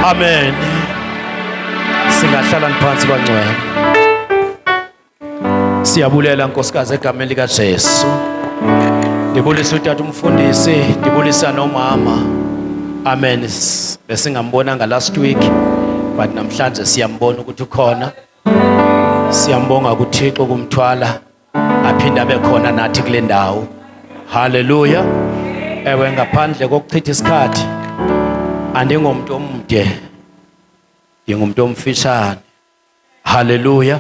Amen. Singahlala phansi bangcwele. Siyabulela nkosikazi egameni lika Jesu. Ndibulisa utata umfundisi, ndibulisa nomama. Amen. Besingambonanga last week but namhlanje siyambona ukuthi ukhona. Siyambonga kuThixo kumthwala aphinde abe khona nathi kule ndawo haleluya ewe ngaphandle kokuchitha isikhathi andingomntu omde ndingumntu omfishane haleluya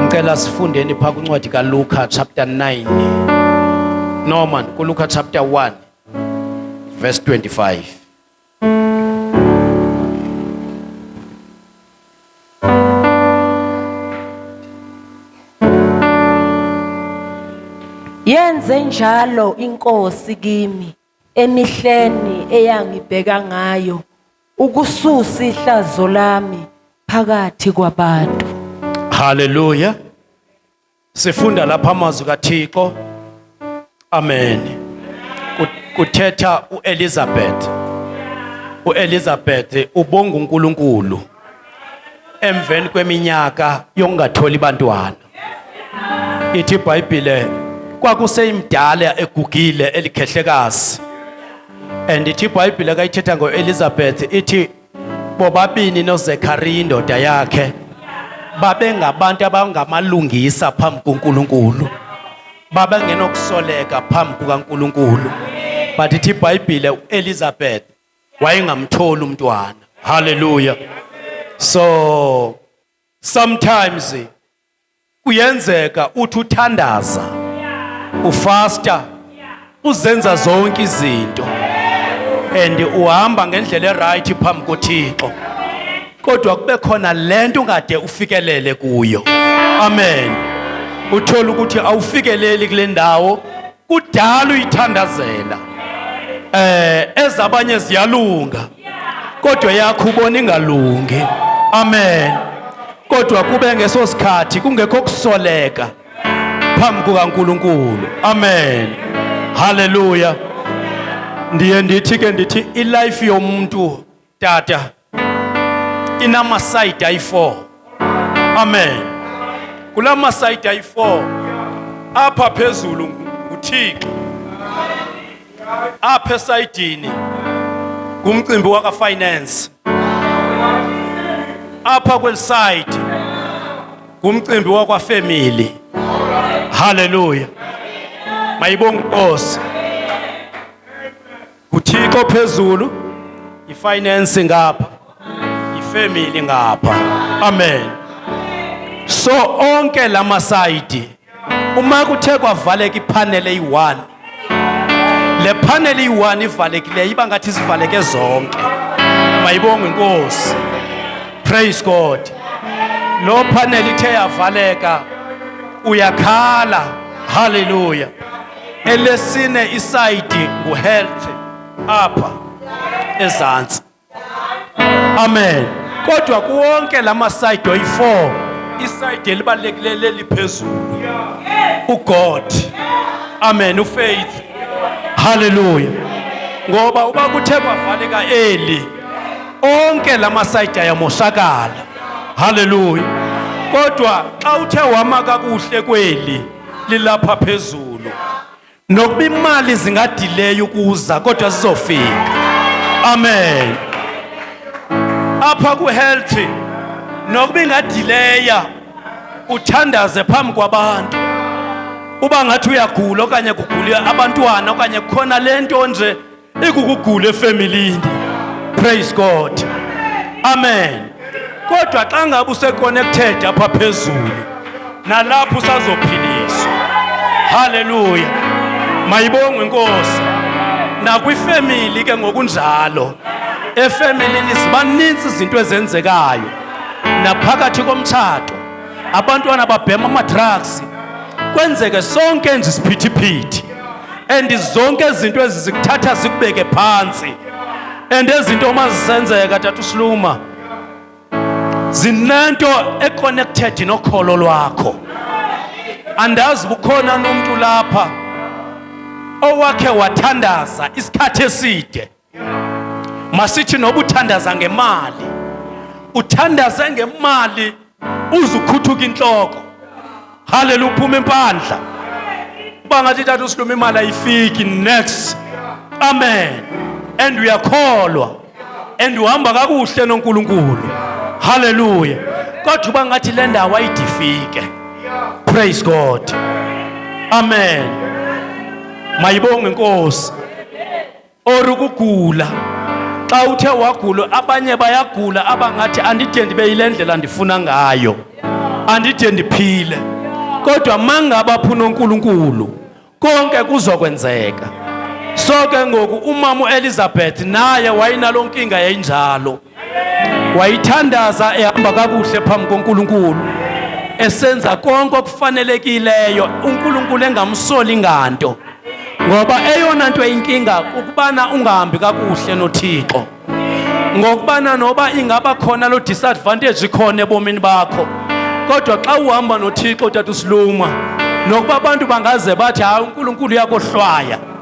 ngicela sifundeni phaa kwincwadi kaluka chapter 9 norman kuluka chapter 1 verse 25 Yenze njalo inkosi kimi emihleni eyangibheka ngayo ukususa ihlazo lami phakathi kwabantu. Hallelujah. Sifunda lapha amazwi kaThixo. Amen. Kuthetha uElizabeth. UElizabeth ubonga uNkulunkulu emveni kweminyaka yokungatholi bantwana. Ithi iBhayibhile kwakuseyimdala egugile elikhehlekazi. And ithi iBhayibhile kayithetha ngoElizabeth ithi bobabini noZekhariya indoda yakhe babengabantu abangamalungisa phambi kuNkulunkulu babengenokusoleka phambi kukaNkulunkulu but ithi ibhayibhile uElizabeth wayengamtholi umntwana haleluya so sometimes kuyenzeka uthi uthandaza ufasta uzenza zonke izinto and uhamba ngendlela erayithi phambi kothixo kodwa kube khona le nto ungade ufikelele kuyo amen uthole ukuthi awufikeleli kule ndawo kudala uyithandazela eh ezabanye ziyalunga kodwa yakho ubona ingalungi amen kodwa kube ngeso sikhathi kungekho kusoleka phambi kukaNkuluNkulu amen haleluya ndiye ndithi ke ndithi ilife yomuntu tata ina masayidi ayi-four amen kula masayidi ayi-four apha phezulu nguthixo apha esayidini ngumcimbi wakafinance apha kweli sayidi ngumcimbi wakwafemili haleluya mayibonge inkosi nguthixo phezulu yifinance ngapha yifemily ngapha amen so onke la masayidi uma kuthe kwavaleka iphaneli eyi-one le phaneli iyi-one ivalekileyo iba ngathi zivaleke zonke mayibongwe inkosi praise god lo phaneli ithe yavaleka uyakhala haleluya elesine isayidi nguhealth apha ezantsi amen kodwa kuwonke la masayidi oyi-four isayidi elibalulekileyo leliphezulu ugod amen ufaith halleluya ngoba uba kuthe kwavaleka eli onke la masayidi ayamoshakala halleluya kodwa xa uthe wama kakuhle kweli lilapha phezulu nokuba imali zingadileyo ukuza kodwa zizofika amen apha kuhealthy nokuba ingadileya uthandaze phambi kwabantu uba ngathi uyagula okanye kugula abantwana okanye kukhona le nto nje ikukugula efemilini praise god amen kodwa xa ngabe useconnected apha phezulu nalapho usazophiliswa haleluya mayibongwe inkosi nakwifemili ke ngokunjalo efemelini zibaninzi izinto ezenzekayo naphakathi komtshato abantwana babhema amadrugs kwenzeke sonke nje isiphithiphithi and zonke izinto ezi zikuthatha zikubeke phantsi and ezinto uma zisenzeka tata usiluma zinento econnected nokholo lwakho andazi bukhona nomntu lapha owakhe wathandaza isikhathi eside masithi noba uthandaza ngemali uthandaze ngemali uze ukhuthuka intloko haleluya uphuma impandla uba ngathi tata usiluma imali ayifiki next amen and uyakholwa and uhamba kakuhle nonkulunkulu haleluya kodwa uba ngathi le ndawo ayidifike praise god amen mayibonge inkosi or ukugula xa uthe wagula abanye bayagula abangathi andide ndibe yile ndlela ndifuna ngayo andide ndiphile kodwa mangaba phuna uNkulunkulu konke kuzokwenzeka so ke ngoku umama uElizabeth naye wayinalonkinga yayinjalo wayithandaza ehamba kakuhle phambi koNkulunkulu esenza konke okufanelekileyo uNkulunkulu engamsoli nganto ngoba eyona nto eyinkinga kukubana ungahambi kakuhle noThixo ngokubana noba ingaba khona lo disadvantage ikhona ebomini bakho kodwa xa uhamba noThixo tata usiluma nokuba abantu bangaze bathi hayi uNkulunkulu uyakohlwaya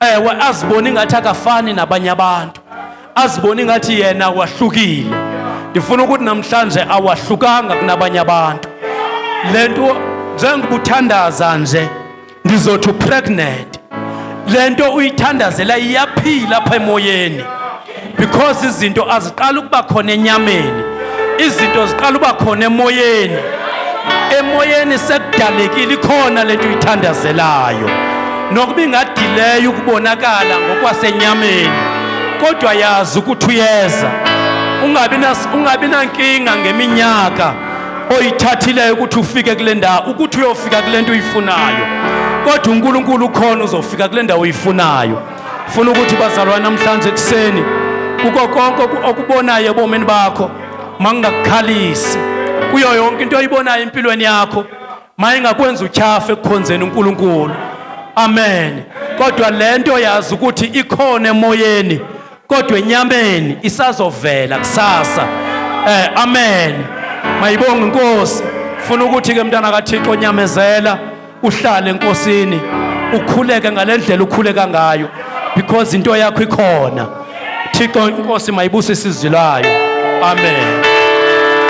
ewe azibone ingathi akafani nabanye abantu azibone ingathi yena wahlukile ndifuna ukuthi namhlanje awahlukanga kunabanye abantu le nto njengobuthandaza nje ndizothi upregnant le nto uyithandazela iyaphila apha emoyeni because izinto aziqala ukuba khona enyameni izinto ziqala uba khona emoyeni emoyeni sekudalekile ikhona le nto uyithandazelayo nokuba ingadileyo ukubonakala ngokwasenyameni kodwa yazi ukuthi uyeza ungabi nankinga ngeminyaka oyithathileyo ukuthi ufike kule ndawo ukuthi uyofika kule nto uyifunayo kodwa unkulunkulu ukhona uzofika kule ndawo uyifunayo funa ukuthi bazalwa namhlanje ekuseni kuko konke okubonayo ebomini bakho mangingakukhalisi kuyo yonke into oyibonayo empilweni yakho mayingakwenza utyhafe ekukhonzeni uNkulunkulu amen kodwa lento yazi ukuthi ikhona emoyeni kodwa enyameni isazovela kusasa eh amen mayibonge inkosi funa ukuthi ke mntana kaThixo nyamezela uhlale enkosini ukhuleke ngale ndlela ukhuleka ngayo because into yakho ikhona thixo inkosi mayibusise izwi layo amen